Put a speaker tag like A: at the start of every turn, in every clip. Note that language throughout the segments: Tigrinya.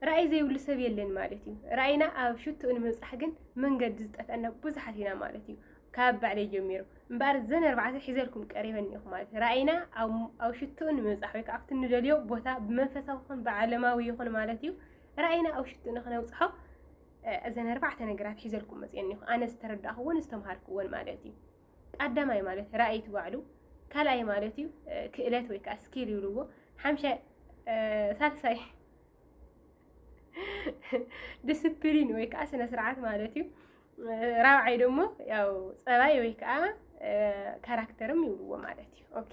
A: ራእይ ዘይብሉ ሰብ የለን ማለት እዩ። ራእይና ኣብ ሽትኡ ንምብፃሕ ግን መንገዲ ዝጠፍአና ብዙሓት ኢና ማለት እዩ። ካብ ባዕለይ ጀሚሩ እምበኣር ዘን ኣርባዕተ ሒዘልኩም ቀሪበን እኒኹ ማለት እዩ። ራእይና ኣብ ሽትኡ ንምብፃሕ ወይ ከዓ ኣብቲ ንደልዮ ቦታ ብመንፈሳዊ ይኹን ብዓለማዊ ይኹን ማለት እዩ ራእይና ኣብ ሽትኡ ንክነብፅሖ እዘን ኣርባዕተ ነገራት ሒዘልኩም መፅአ እኒኹ ኣነ ዝተረዳእኹዎን ዝተምሃርኩዎን ማለት እዩ። ቃዳማይ ማለት ራእይቲ ባዕሉ፣ ካልኣይ ማለት እዩ ክእለት ወይ ከዓ ስኪል ይብልዎ፣ ሓምሻይ ሳልሳይ ዲስፕሊን ወይ ከዓ ስነ ስርዓት ማለት እዩ። ራብዓይ ደግሞ ያው ፀባይ ወይ ከዓ ካራክተርም ይብልዎ ማለት እዩ። ኦኬ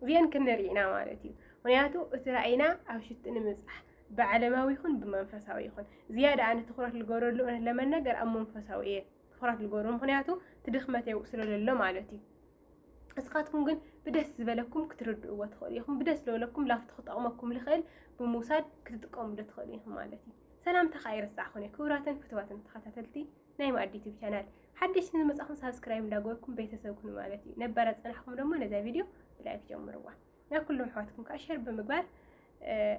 A: እዚአን ክንርኢ ኢና ማለት እዩ። ምክንያቱ እቲ ራእይና ኣብ ሽቲ ንምብፃሕ ብዓለማዊ ይኹን ብመንፈሳዊ ይኹን ዝያዳ ኣነ ትኩረት ልገብረሉ ለመን ነገር ኣብ መንፈሳዊ እየ ትኩራት ንገሩ ምክንያቱ እቲ ድክመት የውስሎ ለሎ ማለት እዩ እስካትኩም ግን ብደስ ዝበለኩም ክትርድእዎ ትኽእሉ ኢኹም ብደስ ዝበለኩም ላፍቲ ክጠቕመኩም ዝኽእል ብምውሳድ ክትጥቀምሉ ትኽእሉ ኢኹም ማለት እዩ ሰላምታ ከዓ ይረሳዕኹን እዩ ክቡራትን ፍትዋትን ተኸታተልቲ ናይ ማኣዲ ዩቱብ ቻናል ሓደሽ ንዝመፃኹም ሳብስክራይብ እንዳገበርኩም ቤተሰብ ኩኑ ማለት እዩ ነባር ፀናሕኹም ደግሞ ነዛ ቪድዮ ብላይክ ጀምርዋ ናብ ኩሎም ኣሕዋትኩም ከዓ ሸር ብምግባር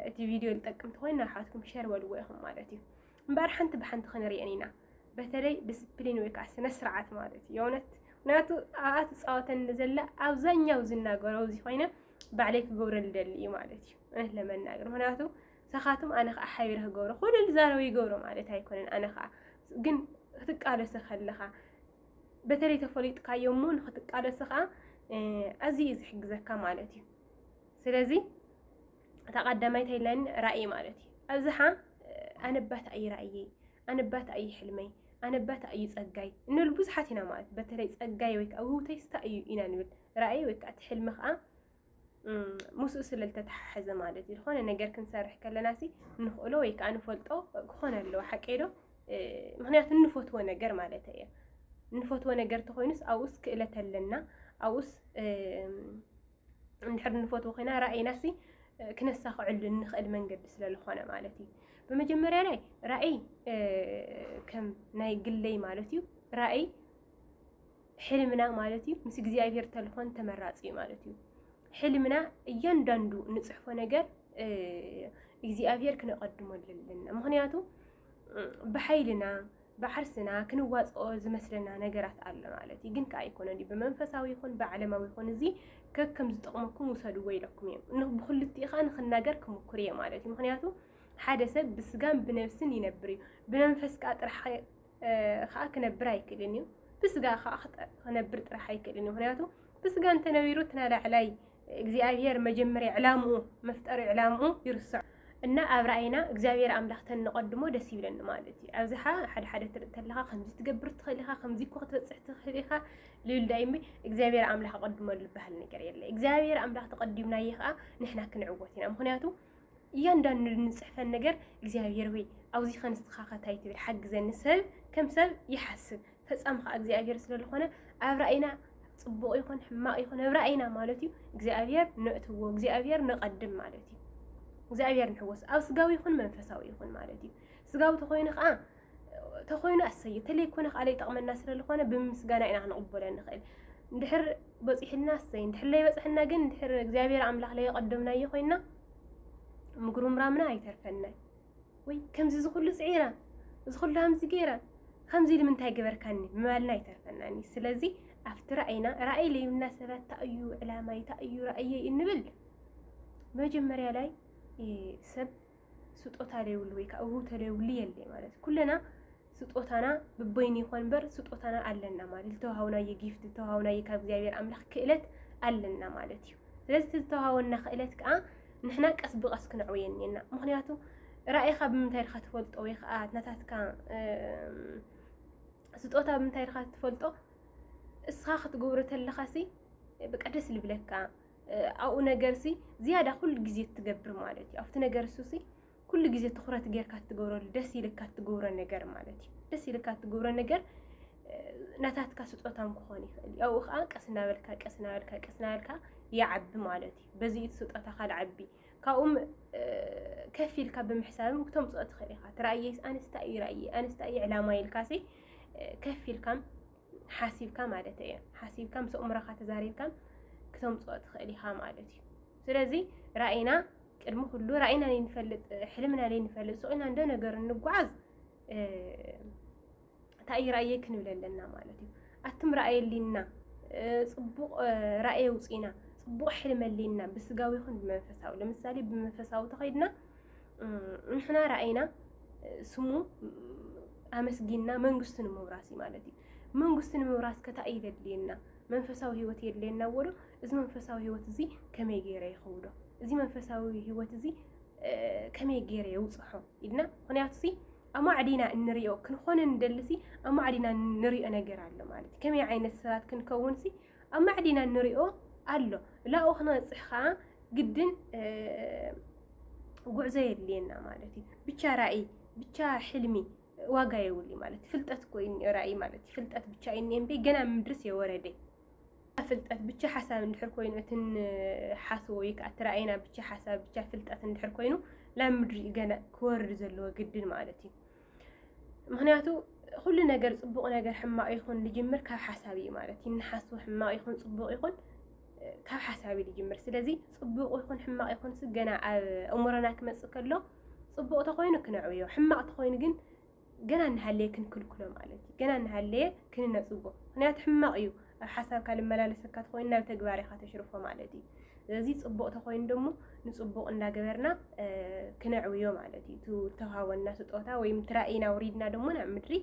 A: እቲ ቪድዮ ዝጠቅም ተኮይኑ ናብ ኣሕዋትኩም ሸር በልዎ ኢኹም ማለት እዩ እምበኣር ሓንቲ ብሓንቲ ክንሪኤን ኢና በተለይ ዲስፕሊን ወይ ከዓ ስነ ስርዓት ማለት እዩ የእውነት ምክንያቱ ኣብኣ ትፃወተን ዘላ ኣብዛኛው ዝናገሮ እዚ ኮይነ ባዕለይ ክገብሮ ልደሊ እዩ ማለት እዩ እውነት ለመናገር ምክንያቱ ሰኻትም ኣነ ከዓ ሓቢረ ክገብሮ ኩሉ ዝዛረቡ ይገብሮ ማለት ኣይኮነን ኣነ ከዓ ግን ክትቃለሰ ከለኻ በተለይ ተፈሊጥካዮ እሞ ንክትቃለሰ ከዓ ኣዝዩ እዩ ዝሕግዘካ ማለት እዩ ስለዚ እታ ቀዳማይ ተይለኒ ራእይ ማለት እዩ ኣብዝሓ ኣነባት ኣይ ራእየይ ኣነባት ኣይ ሕልመይ ኣነባት ኣዩ ፀጋይ እንብል ብዙሓት ኢና ማለት በተለይ ፀጋይ ወይ ከዓ ውህውተይ ስታ እዩ ኢና ንብል ራእይ ወይ ከዓ እቲ ሕልሚ ከዓ ምስኡ ስለ ዝተተሓሓዘ ማለት እዩ ዝኾነ ነገር ክንሰርሕ ከለና ሲ ንኽእሎ ወይ ከዓ ንፈልጦ ክኾነ ኣለዎ ሓቀይ ዶ ምክንያቱ እንፈትዎ ነገር ማለት እየ እንፈትዎ ነገር ተኮይኑስ ኣብኡስ ክእለት ኣለና ኣብኡስ እንድሕር ንፈትዎ ኮይና ራእይናሲ ክነሳኽዐሉ እንኽእል መንገዲ ስለዝኾነ ማለት እዩ። ብመጀመርያ ላይ ራእይ ከም ናይ ግለይ ማለት እዩ ራእይ ሕልምና ማለት እዩ ምስ እግዚኣብሔር ተልኾን ተመራፂ እዩ ማለት እዩ። ሕልምና እያንዳንዱ ንፅሕፎ ነገር እግዚኣብሔር ክነቐድሞ ኣለና። ምክንያቱ ብሓይልና ብዓርስና ክንዋጽኦ ዝመስለና ነገራት ኣሎ ማለት እዩ። ግን ከኣ ኣይኮነን እዩ። ብመንፈሳዊ ይኹን ብዓለማዊ ይኹን እዚ ከከም ዝጠቕመኩም ውሰድዎ ኢለኩም እዮም። ብክልቲኡ ከኣ ንክናገር ክምኩር እየ ማለት እዩ። ምክንያቱ ሓደ ሰብ ብስጋን ብነብስን ይነብር እዩ። ብመንፈስ ከኣ ጥራሕ ከኣ ክነብር ኣይክእልን እዩ። ብስጋ ከኣ ክነብር ጥራሕ ኣይክእልን እዩ። ምክንያቱ ብስጋ እንተነቢሩ እቲ ናላዕላይ እግዚኣብሔር መጀመርያ ዕላምኡ መፍጠሪ ዕላምኡ ይርስዖ እና ኣብ ራእይና እግዚኣብሔር ኣምላኽ ተንቐድሞ ደስ ይብለኒ ማለት እዩ። ኣብዚሓ ሓደ ሓደ ትርኢ ተለኻ ከምዚ ትገብር ትኽእል ኢኻ፣ ከምዚ እኮ ክትበፅሕ ትኽእል ኢኻ ልብል ዳይሚ እግዚኣብሔር ኣምላኽ ኣቐድመሉ ዝበሃል ነገር የለ። እግዚኣብሔር ኣምላኽ ተቐዲምናየ ከዓ ንሕና ክንዕወት ኢና። ምክንያቱ እያንዳንዱ እንፅሕፈን ነገር እግዚኣብሔር ወይ ኣብዚ ከንስኻኸ እንታይ ትብል ሓግዘኒ ሰብ ከም ሰብ ይሓስብ ፈፃሚ ከዓ እግዚኣብሔር ስለዝኾነ ኣብ ራእይና ፅቡቕ ይኹን ሕማቕ ይኹን ኣብ ራእይና ማለት እዩ እግዚኣብሔር ነእትዎ እግዚኣብሔር ነቐድም ማለት እዩ እግዚኣብሔር ንሕወስ ኣብ ስጋዊ ይኹን መንፈሳዊ ይኹን ማለት እዩ ስጋዊ ተኮይኑ ከዓ ተኮይኑ ኣሰዩ ተለይኮነ ከዓ ይጠቕመና ስለዝኾነ ብምስጋና ኢና ክንቕበሎ ንኽእል እንድሕር በፂሕልና ኣሰይ እንድሕር ለይበፅሕና ግን እንድሕር እግዚኣብሔር ኣምላኽ ለየቐደምናዮ ኮይና ምጉርምራምና ኣይተርፈና ወይ ከምዚ ዝኩሉ ፅዒራ እዚ ኩሉ ከምዚ ገይራ ከምዚ ኢሉ ምንታይ ገበርካኒ ምባልና ኣይተርፈናኒ ስለዚ ኣብቲ ራእይና ራእይ ለዩና ሰባት ታእዩ ዕላማይ ታእዩ ራእየይ እንብል መጀመርያ ላይ ሰብ ስጦታ ዘይብሉ ወይ ከዓ ውህብቶ ዘይብሉ የለ ማለት ኩለና ስጦታና ብበይኑ ይኾን እምበር ስጦታና ኣለና ማለት ዝተውሃውናየ ጊፍት ዝተውሃውናየ ካብ እግዚኣብሔር ኣምላኽ ክእለት ኣለና ማለት እዩ ስለዚ እቲ ዝተውሃወና ክእለት ከዓ ንሕና ቀስ ብቐስ ክንዕውየ እኒና ምክንያቱ ራእይኻ ብምንታይ ድካ ትፈልጦ ወይ ከዓ ናታትካ ስጦታ ብምንታይ ድካ ትፈልጦ እስኻ ክትገብሮ ተለኻሲ በቃ ደስ ልብለካ ኣብኡ ነገርሲ ዝያዳ ኩሉ ግዜ እትገብር ማለት እዩ ኣብቲ ነገር እሱሲ ኩሉ ግዜ ትኩረት ጌርካ እትገብረሉ ደስ ኢልካ እትገብሮ ነገር ማለት እዩ ደስ ኢልካ እትገብሮ ነገር ናታትካ ስጦታም ክኾን ይኽእል እዩ ኣብኡ ከዓ ቀስ እናበልካ ቀስ እናበልካ ቀስ እናበልካ ይዓቢ ማለት እዩ በዚ እቲ ስጦታካ ልዓቢ ካብኡም ከፍ ኢልካ ብምሕሳብም ክተምፅኦ ትኽእል ኢኻ ትረኣየስ ኣንስታ እዩ ረኣየ ኣንስታ እዩ ዕላማ ኢልካሲ ከፍ ኢልካም ሓሲብካ ማለት እየ ሓሲብካ ምስ ኣእምሮኻ ተዛሪብካ ክተምፅኦ ትኽእል ኢኻ ማለት እዩ ስለዚ ራእይና ቅድሚ ኩሉ ራእይና ንፈልጥ ሕልምና ንፈልጥ ስቑኢልና እንዶ ነገር እንጓዓዝ እንታይ እዩ ራእየ ክንብል ኣለና ማለት እዩ ኣቱም ራእየሊና ፅቡቕ ራእየ ውፅኢና ፅቡቕ ሕልመሊና ብስጋዊ ይኹን ብመንፈሳዊ ለምሳሌ ብመንፈሳዊ ተኸይድና ንሕና ራእይና ስሙ ኣመስጊንና መንግስቱ ንምውራስ እዩ ማለት እዩ። መንግስቱ ንምውራስ ከታ እዩ ዘድልየና መንፈሳዊ ህይወት የድልየና ወዶ እዚ መንፈሳዊ ህይወት እዚ ከመይ ገይረ ይኸውዶ እዚ መንፈሳዊ ህይወት እዚ ከመይ ገይረ የውፅሖ ኢልና ምክንያቱ ሲ ኣማዕዲና እንሪኦ ክንኾነ ንደሊ ሲ ኣማዕዲና ንሪኦ ነገር ኣሎ ማለት እዩ። ከመይ ዓይነት ሰባት ክንከውን ሲ ኣብ ማዕዲና እንሪኦ ኣሎ ላኡ ክነብፅሕ ከዓ ግድን ጉዕዞ የድልየና ማለት እዩ ብቻ ራእይ ብቻ ሕልሚ ዋጋ የውሊ ማለት ፍልጠት እኮ እዩ ራእይ ማለት እዩ ፍልጠት ብቻ እዩ እምበይ ገና ምድርስ የወረደ ፍልጠት ብቻ ሓሳብ እንድሕር ኮይኑ እቲ ሓስቦ ወይ ከዓ እቲ ራእይና ብቻ ሓሳብ ብቻ ፍልጠት እንድሕር ኮይኑ ናብ ምድሪ ገና ክወርድ ዘለዎ ግድን ማለት እዩ ምክንያቱ ኩሉ ነገር ፅቡቅ ነገር ሕማቅ ይኹን ልጅምር ካብ ሓሳብ እዩ ማለት እዩ ንሓሱ ሕማቅ ይኹን ፅቡቅ ይኹን ካብ ሓሳብ እዩ ልጅምር ስለዚ ፅቡቅ ይኹን ሕማቅ ይኹን ገና ኣብ እምሮና ክመፅእ ከሎ ፅቡቅ ተኮይኑ ክነዕብዮ ሕማቅ ተኮይኑ ግን ገና እናሃለየ ክንክልክሎ ማለት እዩ ገና እናሃለየ ክንነፅጎ ምክንያቱ ሕማቅ እዩ ኣብ ሓሳብካ ልመላለሰካ ተኮይኑ ናብ ተግባር ኢኻ ተሽርፎ ማለት እዩ ስለዚ ፅቡቅ ተኮይኑ ደሞ ንፅቡቅ እንዳገበርና ክነዕብዮ ማለት እዩ ተዋሃወና ስጦታ ወይም ትራእይና ውሪድና ደሞ ናብ ምድሪ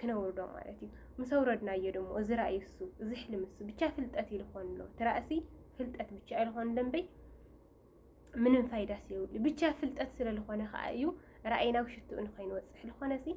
A: ክነውርዶ ማለት እዩ ምስ ኣውረድናዮ ደሞ እዚ ራእይ እሱ እዚ ሕልም እሱ ብቻ ፍልጠት ይልኾን ኣሎ ትራእሲ ፍልጠት ብቻ ይልኾን ደንበይ ምንም ፋይዳስ የብሉ ብቻ ፍልጠት ስለልኾነ ከዓ እዩ ራእይና ውሽትኡ ንኸይንወፅሕ ልኾነ ሲ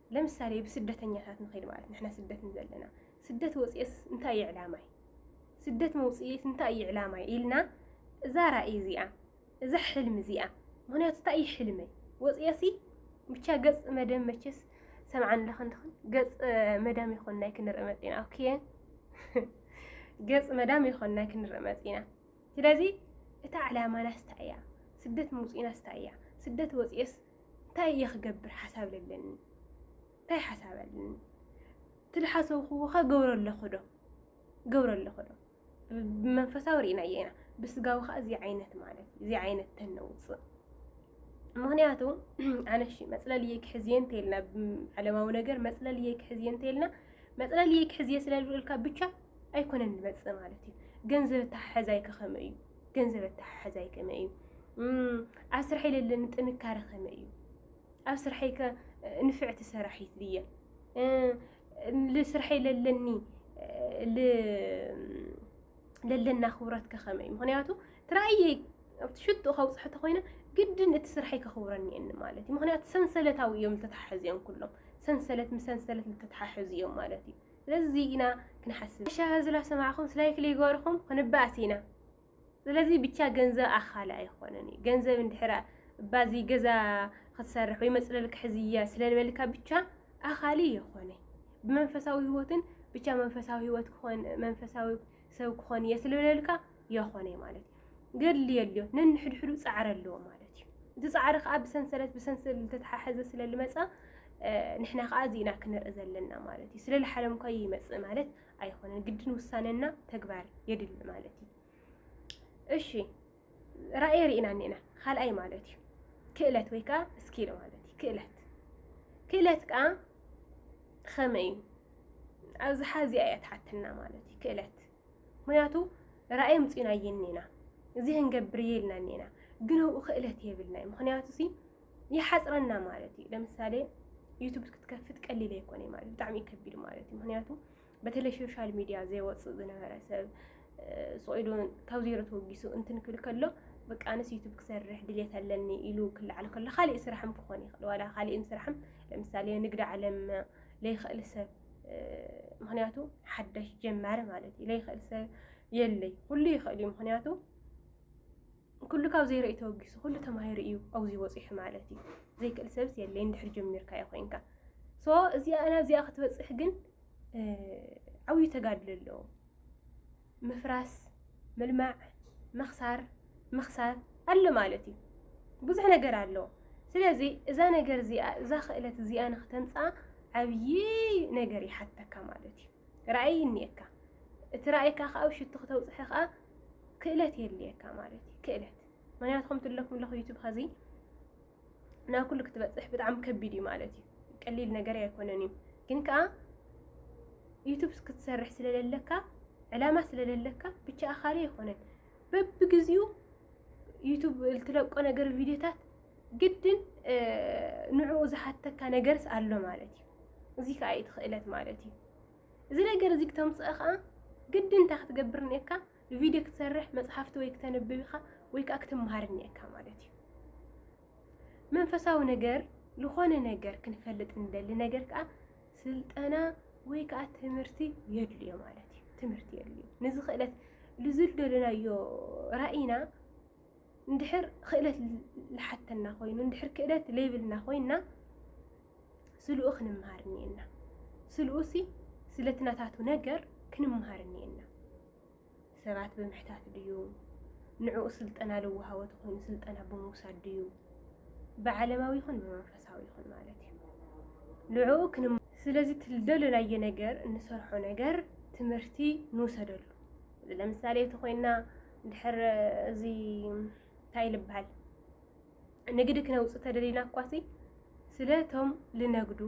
A: ለምሳሌ ብስደተኛታት ንኸይድ ማለት ንሕና ስደት ንዘለና ስደት ወፅኤስ እንታይ እዩ ዕላማይ ስደት መውፅኢት እንታይ እዩ ዕላማይ ኢልና እዛ ራእይ እዚኣ እዛ ሕልሚ እዚኣ ምክንያቱ እንታይ እዩ ሕልመይ ወፅኤሲ ብቻ ገፅ መደም መቼስ ሰምዓን ኣለኸ እንትኽን ገፅ መዳም ይኾን ናይ ክንርኢ መፂና ኦኬ ገፅ መዳም ይኾን ናይ ክንርኢ መፂና ስለዚ እታ ዕላማና ስታ እያ ስደት መውፅኢና ስታ እያ ስደት ወፅኤስ እንታይ እየ ክገብር ሓሳብ ለለኒ እንታይ ሓሳብ ኣለኒ ትልሓሰብክዎኸ ገብረ ኣለኹ ዶ ገብረ ኣለኹ ዶ ብመንፈሳዊ ርኢናዮ ኢና ብስጋዊ ከዓ እዚ ዓይነት ማለት እዩ እዚ ዓይነት ተነውፅእ ምክንያቱ ኣነሺ መፅለልየ ክሕዝየ እንተይልና ዓለማዊ ነገር መፅለልየ ክሕዝየ እንተይልና መፅለልየ ክሕዝየ ስለልብልካ ብቻ ኣይኮነን ንመፅእ ማለት እዩ ገንዘብ ተሓሕዛይ ከኸመ እዩ ገንዘብ ኣተሓሕዛይ ከመይ እዩ? ኣብ ስርሐይ ዘለኒ ጥንካረ ከመይ እዩ? ኣብ ስርሐይ ከ ንፍዕቲ ሰራሒት ድየ? ልስርሐይ ለለኒ ለለና ክብረት ከኸመ እዩ? ምክንያቱ ትራእየ ኣብቲ ሽጡ ከብፅሐ ተኮይነ ግድን እቲ ስርሐይ ከኽብረኒ እየኒ ማለት እዩ። ምክንያቱ ሰንሰለታዊ እዮም ተተሓሕዚኦም ኩሎም ሰንሰለት ምስ ሰንሰለት ተተሓሕዙ እዮም ማለት እዩ። ስለዚ ኢና ክንሓስብ ሻጋ ዝላሰማዕኹምስ ላይክ ለይገበርኹም ክንበኣስ ኢና ስለዚ ብቻ ገንዘብ ኣኻሊ ኣይኾነን እዩ ገንዘብ እንድሕር ባዚ ገዛ ክትሰርሕ ወይ መፅለል ክሕዝ እያ ስለልበልካ ብቻ ኣኻሊ የኾነ ብመንፈሳዊ ህይወትን ብቻ መንፈሳዊ ህይወት ክኾን መንፈሳዊ ሰብ ክኾን እየ ስለለልካ የኾነ እዩ ማለት እዩ ገድሊ የልዮ ነንሕድሕዱ ፃዕሪ ኣለዎ ማለት እዩ እቲ ፃዕሪ ከዓ ብሰንሰለት ብሰንሰለት ተተሓሐዘ ስለልመፃ ንሕና ከዓ እዚ ኢና ክንርኢ ዘለና ማለት እዩ ስለ ልሓለም እኳ ይመፅእ ማለት ኣይኮነን ግድን ውሳነና ተግባር የድሊ ማለት እዩ እሺ ራእይ ርኢና እኒና ካልኣይ ማለት እዩ ክእለት ወይ ከዓ ስኪል ማለት እዩ ክእለት ክእለት ከዓ ኸመይ እዩ ኣብዚ ሓዚ እያ ትሓተና ማለት እዩ ክእለት ምክንያቱ ራእይ ምፅና እየኒና እዚ ህንገብር የልና እኒና ግን ኣብኡ ክእለት የብልና እዩ ምክንያቱ ሲ ይሓፅረና ማለት እዩ ለምሳሌ ዩቱብ ክትከፍት ቀሊል ኣይኮነ ማለት ብጣዕሚ ከቢድ ማለት እዩ ምክንያቱ በተለይ ሶሻል ሚድያ ዘይወፅእ ዝነበረ ሰብ ስቕ ኢሉ ካብ ዜሮ ተወጊሱ እንትንክል ከሎ በቃ ኣነስ ዩቱብ ክሰርሕ ድሌት ኣለኒ ኢሉ ክለዓል ከሎ ካሊእ ስራሕም ክኾን ይኽእል ዋላ ካሊእም ስራሕም ለምሳሌ ንግዲ ዓለም ለይኽእል ሰብ ምክንያቱ ሓዳሽ ጀማሪ ማለት እዩ ለይኽእል ሰብ የለይ ኩሉ ይኽእል እዩ ምክንያቱ ኩሉ ካብ ዘይርኢ ተወጊሱ ኩሉ ተማሂሩ እዩ ኣብዙይ በፂሑ ማለት እዩ ዘይክእል ሰብስ የለይን ድሕሪ ጀሚርካዮ ኮይንካ ሶ እዚኣ ናብዚኣ ክትበፅሕ ግን ዓብዩ ተጋድሎ ኣለዎ ምፍራስ ምልማዕ ምኽሳር ምኽሳር ኣሎ ማለት እዩ ብዙሕ ነገር ኣለዎ ስለዚ እዛ ነገር እዚኣ እዛ ክእለት እዚኣ ንክተምፅኣ ዓብዪ ነገር ይሓተካ ማለት እዩ ራእይ ይኒኤካ እቲ ራእይካ ከዓ ሽቱ ክተውፅሐ ከዓ ክእለት የድልየካ ማለት እዩ ክእለት ምክንያቱ ከምቲ ኣለኩም ኣለኹ ዩቱብ ኸዚ ናብ ኩሉ ክትበፅሕ ብጣዕሚ ከቢድ እዩ ማለት እዩ ቀሊል ነገር ኣይኮነን እዩ ግን ከዓ ዩቱብ ክትሰርሕ ስለለለካ ዕላማ ስለለለካ ብቻ ኣኻሊ ኣይኮነን በብግዚኡ ዩቱብ እትለቆ ነገር ቪዲዮታት ግድን ንዕኡ ዝሓተካ ነገርስ ኣሎ ማለት እዩ እዚ ከዓ እቲ ክእለት ማለት እዩ እዚ ነገር እዚ ክተምፅእ ከዓ ግድን እንታይ ክትገብር እኒኤካ ቪድዮ ክትሰርሕ መፅሓፍቲ ወይ ክተንብብ ኢኻ ወይ ከዓ ክትምሃር እኒኤካ ማለት እዩ መንፈሳዊ ነገር ዝኾነ ነገር ክንፈልጥ እንደሊ ነገር ከዓ ስልጠና ወይ ከዓ ትምህርቲ የድልዮ ማለት እዩ ትምህርቲ የድልዮ ነዚ ክእለት ልዝደለናዮ ራእይና እንድሕር ክእለት ልሓተና ኮይኑ እንድሕር ክእለት ለይብልና ኮይና ስልኡ ክንምሃር እኒኤና ስልኡሲ ስለቲ ናታቱ ነገር ክንምሃር እኒኤና ሰባት ብምሕታት ድዩ ንዕኡ ስልጠና ልወሃቦ ተኮይኑ ስልጠና ብምውሳድ ድዩ ብዓለማዊ ይኹን ብመንፈሳዊ ይኹን ማለት እዩ ንዕኡ ክን ስለዚ ትልደለናዮ ነገር እንሰርሖ ነገር ትምህርቲ ንውሰደሉ ለምሳሌ እቲ ኮይና ድሕር እዚ እንታይ ልበሃል ንግዲ ክነውፅእ ተደሊና እኳሲ ስለቶም ልነግዱ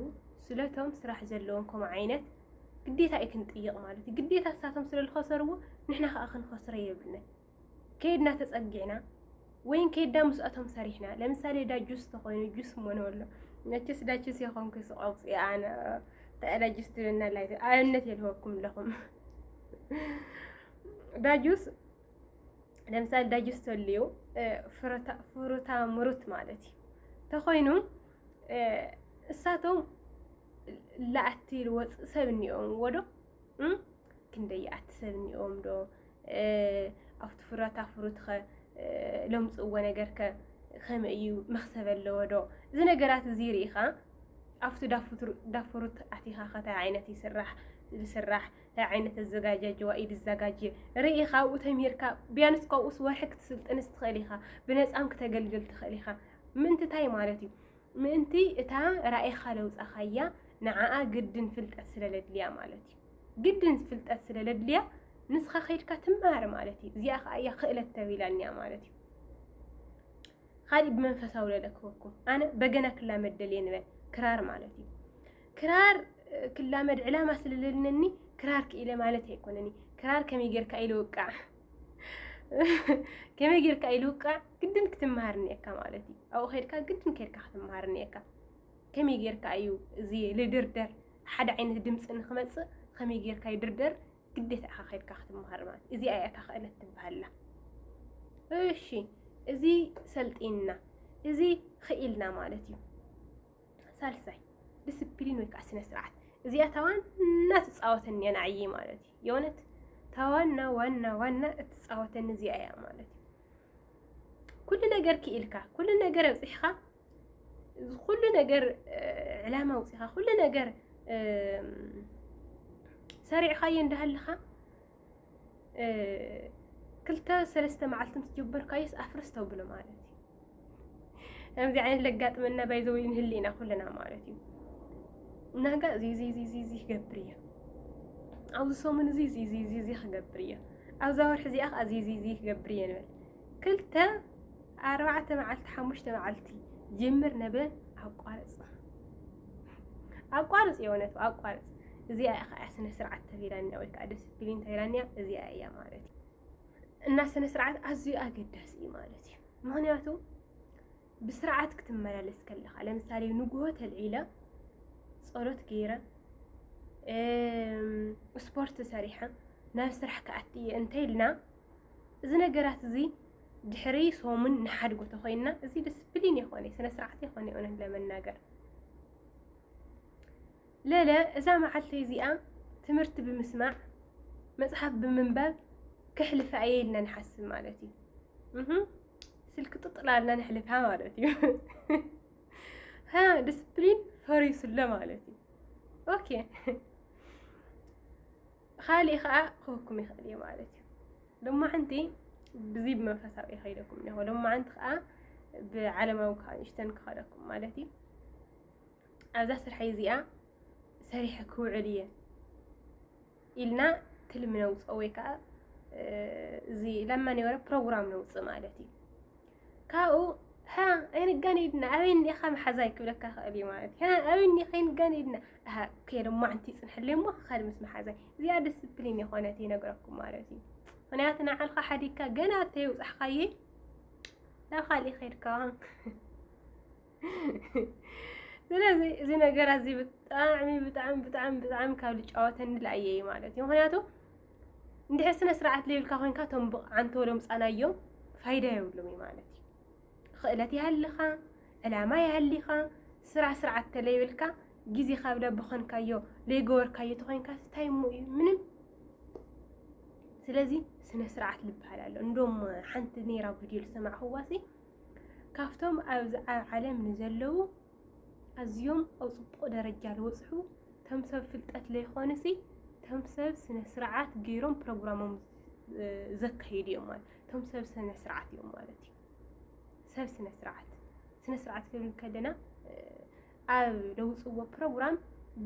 A: ስለቶም ስራሕ ዘለዎም ከምኡ ዓይነት ግዴታ እዩ ክንጥይቕ ማለት እዩ። ግዴታ እሳቶም ስለ ዝኸሰርዎ ንሕና ከዓ ክንኸስረ የብልናን። ከይድና ተፀጊዕና ወይን ከይዳ ምስኣቶም ሰሪሕና ለምሳሌ ዳ ጁስ ተኾይኑ ጁስ ሞነ ኣሎ መቸስ ዳ ጁስ የኾንኩ ስቆብፅ ኣነ ተዕዳ ጁስ ትብልና ላይ ኣብነት የልወኩም ኣለኹም ዳጁስ ለምሳሌ ዳጁስ ተልዩ ፍሩታ ምሩት ማለት እዩ ተኾይኑ እሳቶም ላኣቲ ወፅእ ሰብ እኒኦም ወዶ ክንደይ ኣቲ ሰብ እኒኦም ዶ ኣብቲ ፍረታ ፍሩትኸ ለምፅእዎ ነገር ከ ከመይ እዩ መክሰብ ኣለዎ ዶ እዚ ነገራት እዚ ርኢኻ ኣብቲ ዳፍሩት ኣቲኻ ከታይ ዓይነት ይስራሕ ዝስራሕ እንታይ ዓይነት ኣዘጋጃጅዋ እዩ ድዛጋጀ ርኢኻ ኣብኡ ተሚርካ ቢያንስ ካብኡስ ወርሒ ክትስልጥንስ ትኽእል ኢኻ ብነፃም ክተገልግል ትኽእል ኢኻ ምእንቲ እንታይ ማለት እዩ ምእንቲ እታ ራእኻ ለውፃኻያ ንዓኣ ግድን ፍልጠት ስለለድልያ ማለት እዩ ግድን ፍልጠት ስለለድልያ ንስኻ ከይድካ ትምሃር ማለት እዩ እዚኣ ከኣያ ክእለት ተቢላንያ ማለት እዩ ኻሊእ ብመንፈሳዊ ለለ ክበኩም ኣነ በገና ክላመድ ደልየ ንበል ክራር ማለት እዩ ክራር ክላመድ ዕላማ ስለለለኒ ክራር ክኢለ ማለት ኣይኮነኒ ክራር ከመይ ጌርካ ኢለ ውቃዕ ከመይ ጌርካ ኢለ ውቃዕ ግድን ክትምሃር እኒኤካ ማለት እዩ ኣብኡ ከድካ ግድን ከድካ ክትምሃር እኒኤካ ከመይ ጌርካ እዩ እዚ ልድርደር ሓደ ዓይነት ድምፂ ንክመፅእ ከመይ ጌርካ ይድርደር ግዴታ ኢኻ ከድካ ክትመሃር ማለት እዚኣ እያ እታ ክእለት ትበሃላ እሺ እዚ ሰልጢንና እዚ ኽኢልና ማለት እዩ ሳልሳይ ዲስፕሊን ወይ ከዓ ስነ ስርዓት እዚኣ እታ ዋና ትፃወተኒ እያ ንዓይ ማለት እዩ የእውነት እታ ዋና ዋና ዋና እትፃወተኒ እዚኣ እያ ማለት እዩ ኩሉ ነገር ክኢልካ ኩሉ ነገር ኣብፅሕኻ ኩሉ ነገር ዕላማ ውፅኻ ኩሉ ነገር ሰሪዕኻዮ እንዳሃለኻ ክልተ ሰለስተ መዓልቲ ምስ ጀበርካዮስ ኣፍርስ ተብሎ ማለት እዩ ከምዚ ዓይነት ለጋጥመና ባይዘወ ንህሊ ኢና ኩልና ማለት እዩ እናጋ እዚ እዚ እዚ እዚ እዚ ክገብር እየ ኣብዚ ሰሙን እዚ እዚ እዚ እዚ እዚ ክገብር እየ ኣብዛ ወርሒ እዚኣ ከዓ እዚ እዚ እዚ ክገብር እየ ንበል ክልተ ኣርባዕተ መዓልቲ ሓሙሽተ መዓልቲ ጅምር ነበ ኣቋርፅ ኣቋርፅ የውነት ኣቋርፅ እዚኣ ከዓ ስነ ስርዓት ተቢላኒያ ወይ ከዓ ዲስፕሊን ተቢላኒያ እዚኣ እያ ማለት እዩ እና ስነ ስርዓት ኣዝዩ ኣገዳሲ እዩ ማለት እዩ ምክንያቱ ብስርዓት ክትመላለስ ከለካ ለምሳሌ ንጉሆ ተልዒለ ፀሎት ገይረ ስፖርት ሰሪሐ ናብ ስራሕ ክኣቲ እየ እንተይልና እዚ ነገራት እዚ ድሕሪ ሶሙን ንሓድጎ ተኾይንና እዚ ዲስፕሊን የኾነ ስነ ስርዓት የኾነ እውነት ለመናገር ለለ እዛ መዓልቲ እዚኣ ትምህርቲ ብምስማዕ መፅሓፍ ብምንባብ ከሕልፈ እየ ኢልና ንሓስብ ማለት እዩ ስልኪ ጥጥላልና ንሕልፋ ማለት እዩ ዲስፕሊን ፈሪሱሎ ማለት እዩ ኦኬ ኻሊእ ከዓ ክህኩም ይኽእል እዩ ማለት እዩ ሎማዓንቲ ብዚ ብመንፈሳዊ ይኸይደኩም እኒሆ ሎማዓንቲ ከዓ ብዓለማዊ ከዓ ንእሽተን ክኸደኩም ማለት እዩ ኣብዛ ስርሐይ እዚኣ ሰሪሐ ክውዕል እየ ኢልና ትልሚ ነውፅኦ ወይ ከዓ እዚ ለማ ነረ ፕሮግራም ነውፅእ ማለት እዩ ካብኡ ሃ ኣይንጋን ኢድና ኣበይ እንዲኻ መሓዛይ ክብለካ ክእል እዩ ማለት እዩ ኣበይ እንዲኻ ኣይንጋን ኢድና ሃ ከይደ ማዕንቲ ይፅንሐለ እሞ ክኸድ ምስ መሓዛይ እዚኣ ዲስፕሊን የኾነት ይነግረኩም ማለት እዩ ምክንያቱ ንዓልካ ሓዲግካ ገና ተይውፃሕካየ ናብ ካሊእ ከይድካ ስለዚ እዚ ነገራት እዚ ብጣዕሚ ብጣዕሚ ብጣዕሚ ብጣዕሚ ካብ ዝጫወተኒ ላእየ እዩ ማለት እዩ ምክንያቱ እንድሕር ስነ ስርዓት ዘይብልካ ኮንካ እቶም ብዓንተ ወሎም ፃናዮም ፋይዳ የብሉም እዩ ማለት እዩ ክእለት ይሃልኻ ዕላማ ይሃሊኻ ስራሕ ስርዓት ተለይብልካ ግዜ ካብ ለብኸንካዮ ለይገበርካዮ ተኮይንካ ስታይ እሞ እዩ ምንም ስለዚ ስነ ስርዓት ልበሃል ኣሎ እንዶም ሓንቲ ነይራ ቪድዮ ዝሰማዕክዋ ሲ ካብቶም ኣብዚ ኣብ ዓለም ንዘለዉ ኣዝዮም ኣብ ጽቡቕ ደረጃ ዝበጽሑ ተም ሰብ ፍልጠት ዘይኮኑሲ ተም ሰብ ስነ ስርዓት ገይሮም ፕሮግራሞም ዘካይዱ እዮም ማለት ተም ሰብ ስነ ስርዓት እዮም ማለት እዩ ሰብ ስነ ስርዓት ስነ ስርዓት ክብል ከለና ኣብ ደውፅዎ ፕሮግራም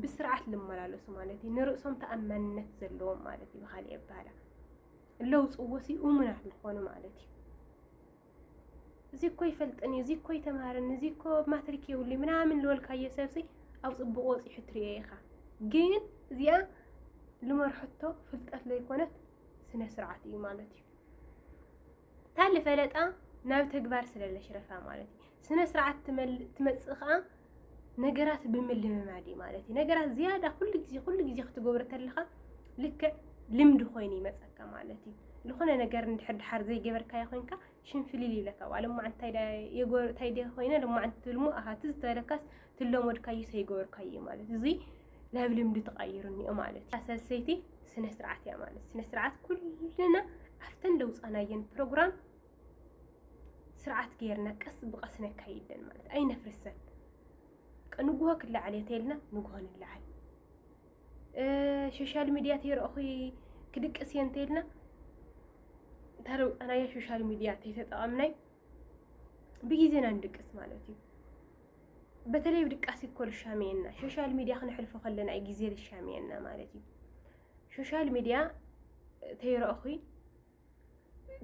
A: ብስርዓት ልመላለሱ ማለት እዩ ንርእሶም ተኣማንነት ዘለዎም ማለት እዩ ብካልእ ይበሃላ ለውፅዎ ሲ እሙናት ዝኾኑ ማለት እዩ እዚ እኮ ይፈልጥን እዩ እዚ እኮ ይተማርን እዚ እኮ ማትሪክ የብሉ ምናምን ልበልካዮ ሰብሲ ኣብ ፅቡቅ ወፂሑ ትሪኦ ኢኻ ግን እዚኣ ልመርሐቶ ፍልጠት ዘይኮነት ስነ ስርዓት እዩ ማለት እዩ ታሊ ፈለጣ ናብ ተግባር ስለለሽረፋ ማለት እዩ ስነ ስርዓት ትመፅእ ከዓ ነገራት ብምልምማድ እዩ ማለት እዩ ነገራት ዝያዳ ኩሉ ግዜ ኩሉ ግዜ ክትገብሮ ተለኻ ልክዕ ልምዲ ኮይኑ ይመፀካ ማለት እዩ ዝኾነ ነገር እንድሕር ድሓር ዘይገበርካዮ ኮይንካ ሽንፍልል ይብለካ ዋ ልማዓንቲ እንታይ ደ ኮይነ ልማዓንቲ ትልሞ ኣሃ እቲ ዝተበለካስ ትለመድካዩ ሰይገበርካዩ ማለት እዚ ናብ ልምዲ ተቐይሩ እኒኦ ማለት እዩ ሰልሰይቲ ስነ ስርዓት እያ ማለት ስነ ስርዓት ኩልና ኣብተን ለውፃናየን ፕሮግራም ስርዓት ገይርና ቀስ ብቐስ ነካይደን ማለት ኣይነፍርሰን። ንጉሆ ክለዓል እየ ተይልና ንጉሆ ንለዓል። ሶሻል ሚዲያ ተይረእኹ ክድቅስ እየ እንተይልና እንታ ለውጠናዮ ሶሻል ሚዲያ ተይተጠቐምናይ ብግዜና ንድቅስ ማለት እዩ። በተለይ ድቃስ እኮ ልሻምየና ሶሻል ሚዲያ ክንሕልፎ ከለና እዩ ግዜ ልሻምየና ማለት እዩ። ሶሻል ሚዲያ ተይረእኹ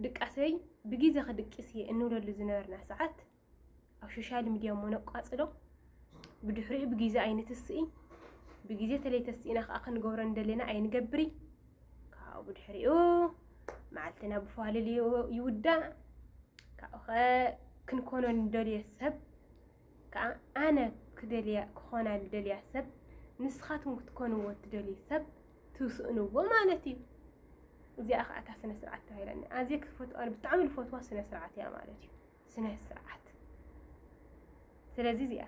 A: ድቃሰይ ብግዜ ክድቅስ እየ እንብለሉ ዝነበርና ሰዓት ኣብ ሶሻል ሚድያ እሞ ነቋፅሎ ብድሕሪኡ ብግዜ ኣይንትስኢ ብግዜ ተለይተስኢና ከዓ ክንገብሮ እንደለና ኣይንገብሪ ካብኡ ብድሕሪኡ መዓልትና ብፋልል ይውዳእ ካብኡ ከ ክንኮኖ ንደልዮ ሰብ ከዓ ኣነ ክደልያ ክኾና ዝደልያ ሰብ ንስኻትኩም ክትኮንዎ ትደልዩ ሰብ ትውስእንዎ ማለት እዩ እዚኣ ከዓ እታ ስነ ስርዓት ተባሂላኒ ኣዝየ ክፈትዋ ብጣዕሚ ዝፈትዋ ስነ ስርዓት እያ ማለት እዩ ስነ ስርዓት ስለዚ እዚኣ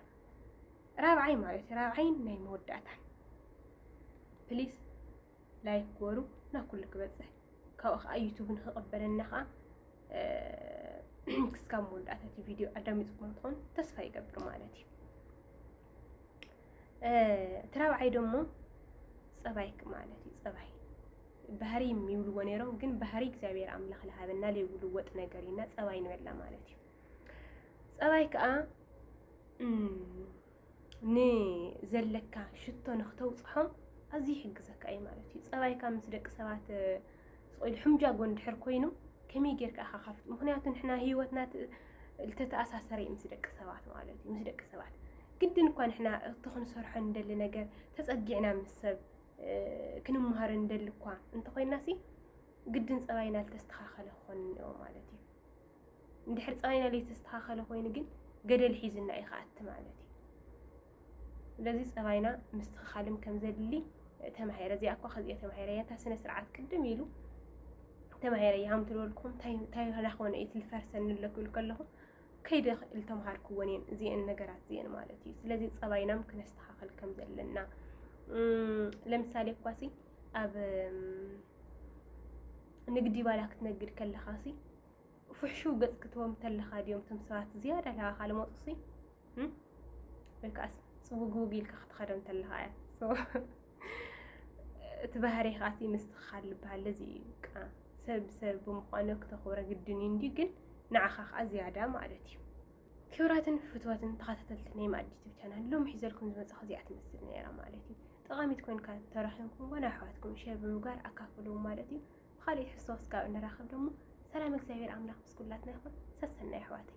A: ራብዓይ ማለት እዩ ራብዓይን ናይ መወዳእታን ፕሊስ ላይክ ጎሩ ናብ ኩሉ ክበፅሕ ካብኡ ከዓ ዩቱብ ንክቐበለና ከዓ ክስካብ መወዳእታ እቲ ቪድዮ ኣዳሚፅኩም ትኾኑ ተስፋ ይገብር ማለት እዩ እቲ ራብዓይ ደሞ ፀባይክ ማለት እዩ ፀባይ ባህሪ የሚብልዎ ነይሮም ግን ባህሪ እግዚኣብሔር ኣምላኽ ልሃበና ዘይብልወጥ ነገር እዩና ፀባይ ንበላ ማለት እዩ ፀባይ ከዓ ንዘለካ ሽቶ ንክተውፅሖም ኣዝዩ ይሕግዘካ እዩ ማለት እዩ ፀባይካ ምስ ደቂ ሰባት ስቆይ ሕምጃ ጎን ድሕር ኮይኑ ከመይ ጌርካ ኢኻ ካፍት ምክንያቱ ንሕና ህይወትና ዝተተኣሳሰረ እዩ ምስ ደቂ ሰባት ማለት እዩ ምስ ደቂ ሰባት ግድን እኳ ንሕና እቲ ክንሰርሖ እንደሊ ነገር ተፀጊዕና ምስ ሰብ ክንምሃር እንደሊ እኳ እንተኮይና ሲ ግድን ፀባይና ዝተስተኻኸለ ክኾን እኒኦ ማለት እዩ እንድሕር ፀባይና ዘይተስተኻኸለ ኮይኑ ግን ገደል ሒዙና እዩ ክኣቲ ማለት እዩ። ስለዚ ፀባይና ምስትኽኻልም ከም ዘድሊ ተማሂረ እዚኣ እኳ ከዚኦ ተማሂረ እያ እታ ስነ ስርዓት ቅድም ኢሉ ተማሂረ እያ ሃም ትበልኩም እንታይ ላኾነ እዩ ትልፈርሰኒ ኣለኩ ኢሉ ከለኹ ከይደ ዝተምሃርኩዎን እየን እዚአን ነገራት እዚአን ማለት እዩ። ስለዚ ፀባይናም ክነስተኻኸል ከም ዘለና ለምሳሌ እኳ ሲ ኣብ ንግዲ ባላ ክትነግድ ከለኻ ሲ ፍሕሹው ገጽ ክትቦም ተለኻ ድዮም እቶም ሰባት ዝያዳ ላባኻ ልመፁሲ ወይ ከዓስ ፅውግውግ ኢልካ ክትኸዶ እንተለኻ እያ እቲ ባህሪ ከዓ እቲ ምስትኽኻል ዝበሃል እዚ እዩ በቃ ሰብ ሰብ ብምዃኑ ክተኽብረ ግድን እዩ እንዲ ግን ንዓኻ ከዓ ዝያዳ ማለት እዩ ክብራትን ፍትወትን ተኸታተልቲ ናይ ማኣዲ ዩቱብ ቻናል ሎም ሒዘልኩም ዝመፅእ ከዚኣ ትመስል ነይራ ማለት እዩ ጠቓሚት ኮንካ ተረኺብኩም ጓን ኣሕዋትኩም ሸር ብምግባር ኣካፍልዎም ማለት እዩ ብኻሊእ ሕሶ እስካብ እንራኸብ ደሞ ሰላም እግዚኣብሔር ኣምላክ ምስ ኩላትና ይኹን ሰሰናዩ ኣሕዋተይ።